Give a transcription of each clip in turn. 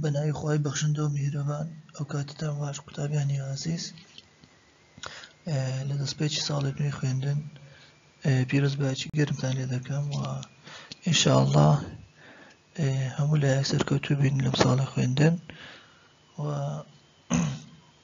بە ناوی خۆی بەخشندە و میهرەبان ئەو کاتتان باش قوتابیانی ئازیز لە دەستپێکی ساڵی نوێی خوێندن پیرۆز باچی گەرمتان لێ دەکەم و ئینشاءله هەموو لای سەرکەوتوو بین لەم ساڵی خوێندن و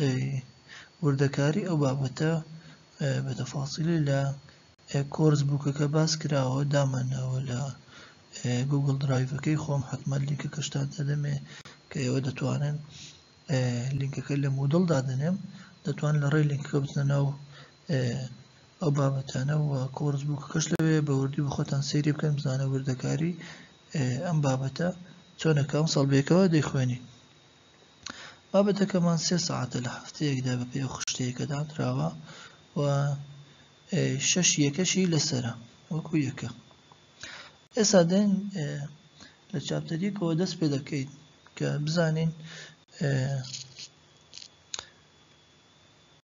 ئەی وردەکاری ئەو بابەتە بە تەفاسیلی لە کۆرس بووکەکە باس کراوە دامانناوە لە گوگل درایڤەکەی خۆم حتمما لینکەکەشتان دەدەمێ کە ئێوە دەتوانن لینکەکە لە مودڵ دادەنێم دەتوان لە ڕێ لینکەکە بچنە ناو ئەو بابەتانە و کۆرس بووکەکەش لەوێ بە وردی بخۆتان سەیری بکەن بزانە وردەکاری ئەم بابەتە چۆنەکەم ساڵبێکەوە دەیخوێنی بابەتەکەمان سێ سەعاتە لە هەفتەیەکدا بەپێ ئەو خشتەیەکە دادراوە و شەش یەکەشی لەسرە وەکو یەکە ئێستا دێن لە چاپتەریەکەوە دەست پێ دەکەیت کە بزانین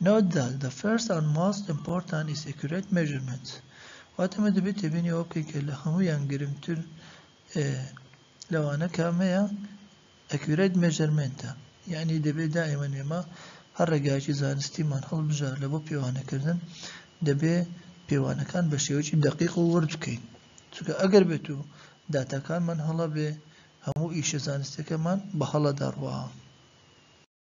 Note that the first and most important is accurate measurement واتە مە دەبێت تێبینی ئەوە بکەین کە لە هەموویان گرنگتر لەوانە کامەیە ئەکوێت مێژەرمنتە یعنی دەبێت دائمە نێمە هەر ڕێگایکی زانستیمان هەڵبژار لە بۆ پێوانەکردن دەبێ پێوانەکان بە شێوەی دقیق و ورد بکەین چونکە ئەگەر بێت و داتاکانمان هەڵە بێ هەموو ئیشە زانستەکەمان بە هەڵە دەڕوە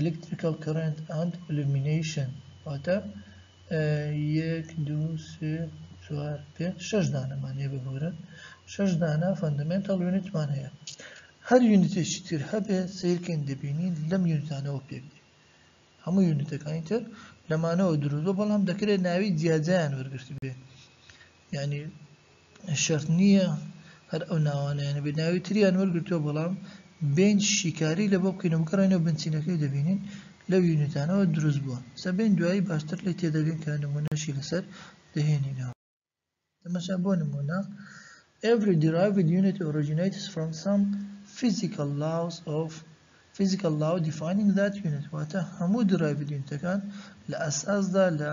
Electrical Current and Illumination واتە یەک دوو سێ چوار پێنج شەش دانەمان هەیە ببورن شەش دانە فەندەمێنتەڵ یونیتمان هەیە هەر یونیتێکی تر هەبێ سیرکەین دەبینین لەم یونیتانەوە پێک دێ هەموو یونیتەکانی تر لەمانەوە دروست بۆ بەڵام دەکرێت ناوی جیاجیان وەرگرت بێ یانی شەرت نییە هەر ئەو ناوانەیان بێت ناوی تریان وەرگرتووە بەڵام بێنج شیکاری لە بۆ بکەینەوە بگەڕێنەوە بنچینەکەی دەبینین لەو یونیتانەوە دروست بووە سەبێن دوایی باشتر لی تێدەگەن کە نمونەشی لەسەر دەهێنینەوە تەمەشا بۆ نمونە Every derived unit originates from some physical laws of physical law defining that unit واتە هەموو derived unitەکان لە ئەساسدا لە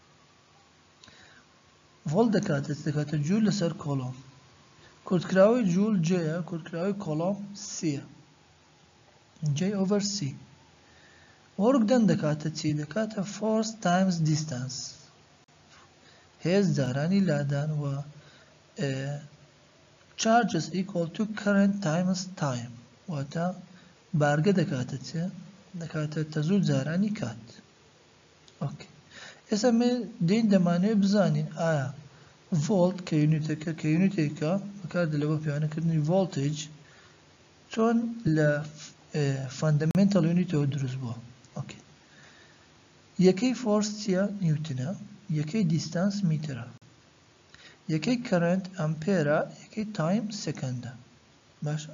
ڤۆڵت دەکاتە چ دەکاتە جوول لەسەر کۆڵۆم کورتکراوەی جوول جێە کورتکراوەی کۆڵۆم سیە جێ ئۆڤەر سی وەرگ دەن دەکاتە چی دەکاتە فۆرس تایمز دیستانس هێز جارانی لادان و چارجس ئیکۆڵ تو کەرنت تایمز تایم واتە بارگە دەکاتە چێ دەکاتە تەزوو جارانی کات ئۆکەی ئێستا ئێمە دێین دەمانەوێت بزانین ئایا ڤۆڵت کە یونیتەکە کە یونیتێکە بەکاردێت بۆ پێوانەکردنی ڤۆڵتج چۆن لە فەندەمێنتەڵ یونیتەوە دروست بووە ئۆکەی یەکەی فۆرس چییە نیوتنە یەکەی دیستانس میترە یەکەی کەرنت ئەمپێرە یەکەی تایم سەکەندە باشە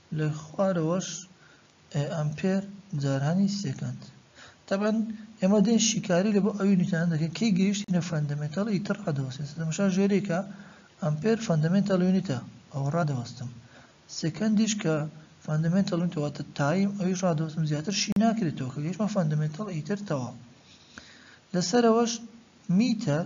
لە خوارەوەش ئەمپێر جارانی سێکەند. تەبعەن ئێمە دێین شیکاری لە بۆ ئەو یونیتانە دەکەین کەی گەیشتینە فەندەمێتەڵ ئیتر ڕادەوەستین سەدە مەشا ژێرێکە ئەمپێر فەندەمێنتاڵ یونیتە ئەوە ڕادەوەستم سێکەندیش کە فەندەمێنتاڵ یونیتە واتە تایم ئەویش ڕادەوەستم زیاتر شی ناکرێتەوە کە گەیشتمە فەندەمێنتاڵ ئیتر تەواو لەسەرەوەش میتەر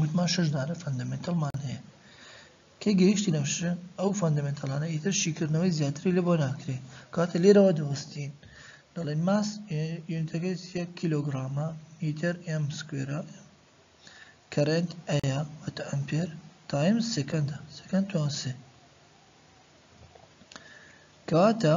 وتمان شەش دانە فەندەمێنتەڵمان هەیە کەی گەیشتینە شە ئەو فەندەمێنتەڵانە ئیتر شیکردنەوەی زیاتری لە بۆ ناکرێ کاتە لێرەوە دەوەستین دەڵێن ماس یونتەکەی یەک کیلۆگرامە میتر ئەم سکوێرە کەرنت ئەیە وەتە ئەمپێر تایم سەکەندە سەکەند توانسێ کەواتە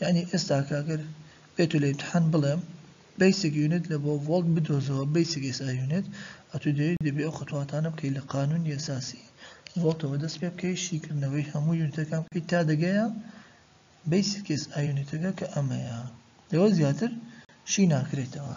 یانی ئێستاکە گەر بێتو لە ئیمتحان بڵێم بەیسک یونت لە بۆ ڤۆڵت بدۆزەوە بەیسک ئێس ئای یونت ئەتو دەیەوی دەبێ ئەو خەتواتانە بکەی لە قانونی ئەساسی ڤۆڵتەوە دەست پێ بکەی شیکردنەوەی هەموو یونتەکان بکەی تا دەگەیە بەیسک ئێس ئای یونتەکە کە ئەمەیە لەوە زیاتر شی ناکرێتەوە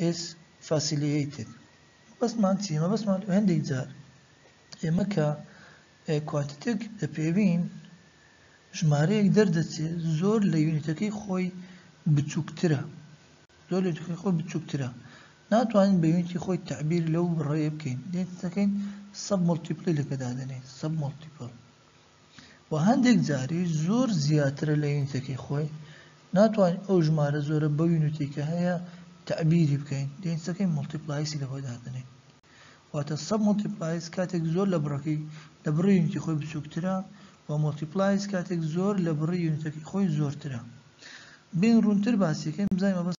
ئێس فاسیلییتد مەبەستمان چیە مەبەستمان هەندێک جار ئێمە کە کوانتیتێک دەپێوین ژمارەیەک دەردەچێ زۆر لە یونیتەکەی خۆی بچووکترە زۆر لە یونیتەکەی خۆی بچووکترە ناتوانین بە یونیتی خۆی تعبیر لەو بڕەیە بکەین دێتەکەین سەب مڵتیپلی لەکە دادەنێ سەب مڵتیپل و هەندێک جاریش زۆر زیاترە لە یونیتەکەی خۆی، ناتوانین ئەو ژمارە زۆرە بەو یونیتی کە هەیە تەعبیری بکەین، دەینسەکەی مۆڵتیپلایسی لە خۆی دادەنێین. واتە سەب مۆڵتیپلایس کاتێک زۆر لە بڕەکەی لە بڕی یونیتی خۆی بچووکترە و مۆڵتیپلایس کاتێک زۆر لە بڕی یونیتەکەی خۆی زۆرترە. بێین ڕوونتر باسیەکەین بزانین مەبەست.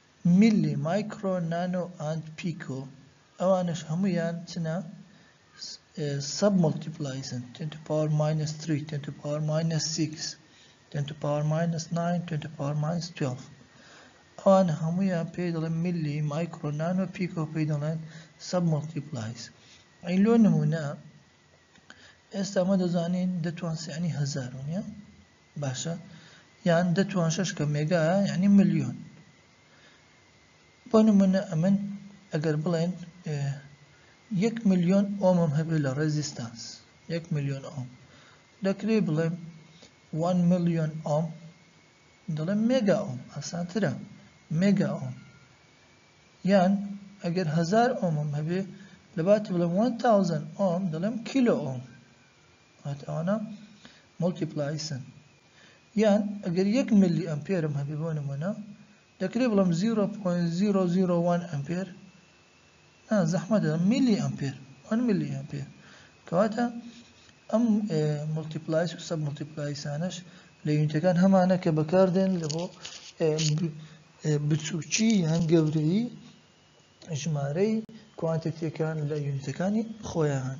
میللی مایکرۆ نانۆ ئاند پیکۆ ئەوانەش هەموویان چنە سەب مۆڵتیپلایسن تێن تو پاوەر ماینەس تری تێن تو پاوەر ماینەس سیکس تێن تو پاوەر ماینەس ناین تێن تو پاوەر ماینەس توێڵف ئەوان هەموویان پێی دەڵێن میللی مایکرۆ نانۆ پیکۆ پێی دەڵێن سەب مۆڵتیپلایس ئەی لۆ نمونە ئێستا مە دەزانین دەتوان سیانی هەزار ونە باشە یان دە توان شەش کە مێگا یعنی ملیۆن بۆ نمونە ئەمن ئەگەر بڵێن یەک ملیۆن ئۆمم هەبێت لە ڕێزیستانس یەک ملیۆن ئۆم دەکرێ بڵێم 1 ملیۆن ئۆم دەڵێم مێگا ئۆم ئاسانترە مێگا ئۆم یان ئەگەر هزار ئۆمم هەبێ لەبات بڵێم 1000 ئۆم دەڵێم کیلۆ ئۆم واتە ئەوانە مۆڵتیپلایسن یان ئەگەر یەک ملی ئەمپێرم هەبێ بۆ نمونە دەکرێ بڵم 0.001 ئەمپێر نا زەحمەتە ملی ئەمپێر وان ملی ئەمپێر کەواتە ئەم ملتیپلایس و سەب ملتیپلایسانش لە یونتەکان هەمانە کە بەکاردێن لە بۆ بچووکی یان گەورەی ژمارەی کوانتەتیەکان لە یونتەکانی خۆیان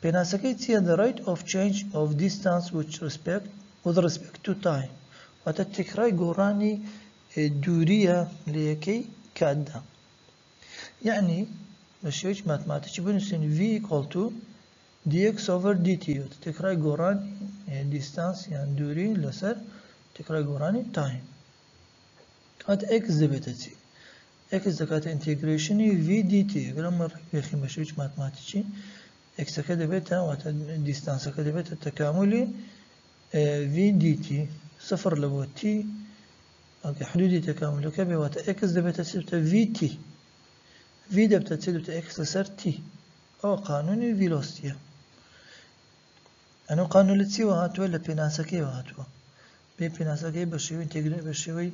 پێناسەکەی چیە The rate of change of distance with respect with respect to time واتە تێکڕای گۆڕانی دوورییە لە یەکەی کاتدا یعنی بە شێوەیەکی ماتماتیکی بنووسین v equal to dx over dt واتە تێکڕای گۆڕانی دیستانس یان دووری لەسەر تێکڕای گۆڕانی تایم کات x دەبێتە چی ئێکس دەکاتە ئینتێگرەیشنی ڤی دی تی، ئەگەر ئەمە ڕێک بێخین بە شێوەیەکی ماتماتیکی، ئێکسەکە دەبێتە، واتە دیستانسەکە دەبێتە تەکامولی ڤی دی تی، سفر لە بۆ تی، ئەگەر حدودی تەکامولەکە بێ، واتە ئێکس دەبێتە چ دەبێتە ڤی تی، ڤی دەبتە چ دەبێتە ئێکس لەسەر تی، ئەوە قانونی ڤیلۆستیە. ئەنە قانون لە چیوە هاتووە؟ لە پێناسەکەیەوە هاتووە. بێ پێناسەکەی بە شێوەی ئینتێگرە بە شێوەی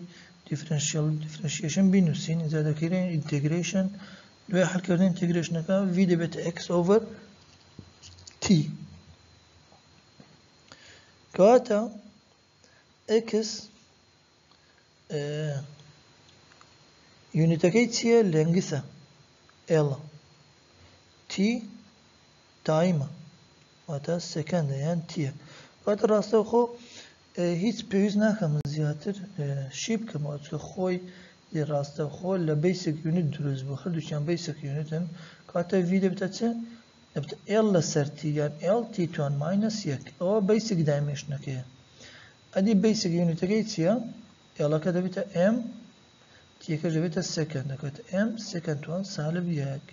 دیفرەنشیەڵ دیفرەنشیەشن بینووسین ئینجا دەکەینە ئینتێگرەیشن دوای حەلکردنی ئینتێگرەیشنەکە ڤی دەبێتە ئێکس ئۆڤەر تی کەواتە ئێکس یونیتەکەی چییە لێنگسە ئێڵە تی تایمە واتا سەکان دەیان تیە. واتا ڕاستەوخۆ هیچ پێویست ناکا من زیاتر شی بکەمەوە چکە خۆی دی ڕاستەوخۆ لە بەیسک یونت دروست بوو هەردووچیان بەیسک یونتن کاتە وی دەبتە چ دەبتە ئێڵ لەسەر تی یان ئێڵ تی توان ماینەس یەک ئەوە بەیسک دایمێشنەکەیە ئەدی بەیسک یونتەکەی چییە ئێڵەکە دەبێتە ئێم تیەکەش دەبێتە سەکەند دەکەوێتە ئێم سەکەند توان سالب یەک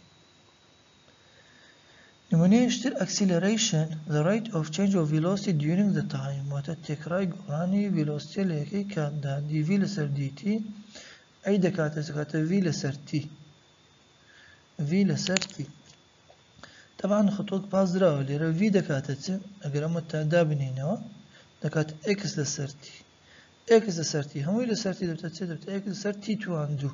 نمونەیش تر ئەکسیلەرەیشن، the rate of change of velocity during the time، واتە تێکڕای گۆڕانی ڤیلۆسیتێ لە یەکەی کاتدا، dv لەسەر dt، ئەی دەکاتە دەکاتە v لەسەر t. v لەسەر t. تەبان خطۆک پاس دراوە لێرە v دەکاتە چ ئەگەر ئەمە تا دابنینەوە دەکات x لەسەر t. x لەسەر t هەمووی لەسەر t دەبتە چ دەبتە x لەسەر t توان دوو.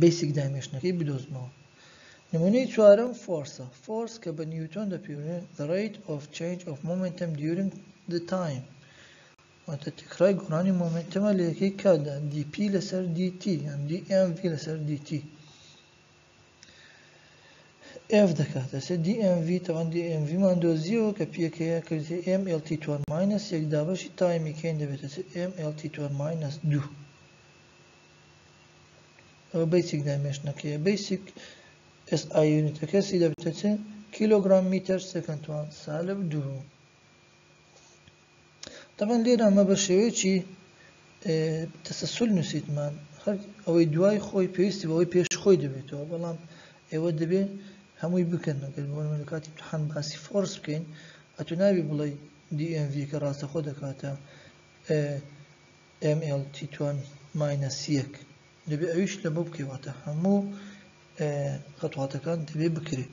بەیسیک دایمێشنەکەی بدۆزمەوە نمونەی چوارەم فۆرسە فۆرس کە بە نیوتۆن دەپێورێن the rate of change of momentum during the time واتە تکرای گۆڕانی مۆمنتەمە لە یەکەی کاتدا dp لەسەر dt یان dmv لەسەر dt ئێف دەکاتە سێ دی ئێم ڤی تەبەن دی ئێم ڤی مان دۆزیەوە کە پی یەکەیە کردێ ئێم ئێل تی توان ماینەس یەک دابەشی تایمی کەین دەبێتە سێ ئێم ئێل تی توان ماینەس دوو ئەوە بەیسیک دایمێشنەکەیە بەیسیک ئێس ئای یونیتەکە سی دەبێتە چ کیلۆگرام میتەر سەکەند توان سالب دوو تەبعەن لێرە مە بە شێوەیەکی تەسەسول نووسیتمان هەر ئەوەی دوای خۆی پێویستی بەوەی پێش خۆی دەبێتەوە بەڵام ئێوە دەبێ هەمووی بکەن نەگەر بۆ لە کاتی امتحان باسی فۆرس بکەین ئەتو ناوی بڵێ DMV کە ڕاستەخۆ دەکاتە MLT توان ماینەس یەک دەبێ ئەویش لە بۆ بکەواتە هەموو خەتواتەکان دەبێ بکرێت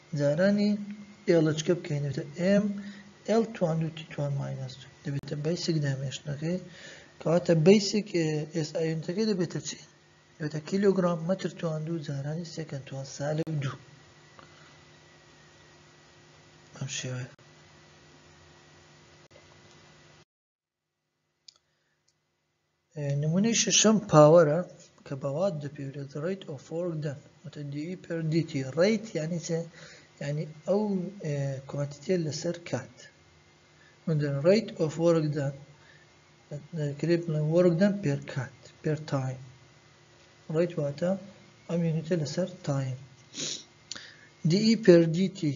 جارانی ئێڵچکە بکەین دەبێتە ئێم ئێڵ توان دوو تی توان ماینەس دوو دەبێتە بەیسک دامێشتنەکەی کەواتە بەیسک ئێس ئایونتەکەی دەبێتە چی دەبێتە کیلۆگرام مەتر توان دوو جارانی سێکەند توان سالب دوو ئەم شێوەیە نمونەی شەشەم پاوەرە کە بە وات دەپێورێت ڕیت ئۆفۆرک دەن وتە دیوی پردیتی ڕیت یعنی چێ یعنی ئەو کوانتیتێ لەسەر کات وندن ڕیت ئۆفۆرک دەن کرێ بڵێ وەرک دەن پێر کات پێر تایم ڕیت واتە ئەم یونیتە لەسەر تایم دیئی پردیتی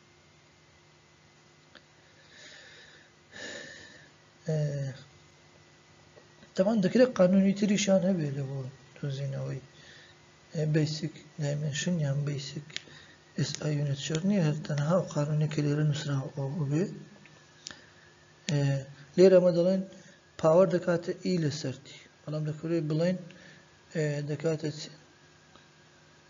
تەمان دەکرێت قانونی تریشان هەبێت لە بۆ دۆزینەوەی بیسک دایمنشن یان بیسک ئس ئایونت شەر نیە هەر تەنها و قانونی کە لێرە نووسراوە ئەو بێ لێرە ئەمە دەڵێن پاوەەر دەکاتە ئی لە سەرتی بەڵام دەکرێت بڵێن دەکاتە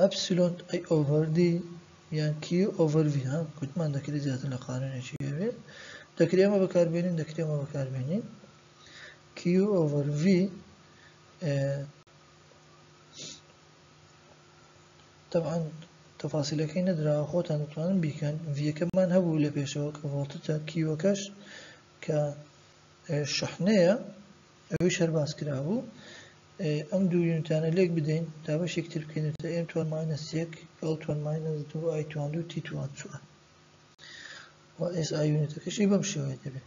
ئەپسیلۆن ئەی ئۆڤەر دی یان کیو ئۆڤەر ڤی ها گوتمان دەکرێت زیاتر لە قانونێکی هەبێت دەکرێت ئەمە بەکاربێنین دەکرێت ئەمە بەکاربێنین کیو ئۆڤەر ڤی طبعا تەفاسیلەکەی نەدراوە خۆتان دەتوانن بیکەن ڤیەکەمان هەبوو لە پێشەوە کە ڤۆڵتتە کیوەکەش کە شحنەیە ئەوەیش هەر باس کرابوو ئەم دوو یونتانە لێک بدەین تا بەشێک تر بکەینەوە تا ئێم توان ماینەس یەک ئەڵ توان ماینەس دوو ئای توان دوو تی توان چوار و ئێس ئای یونتەکەشی بەم شێوەیە دەبێت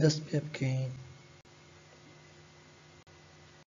دەست پێ بکەین.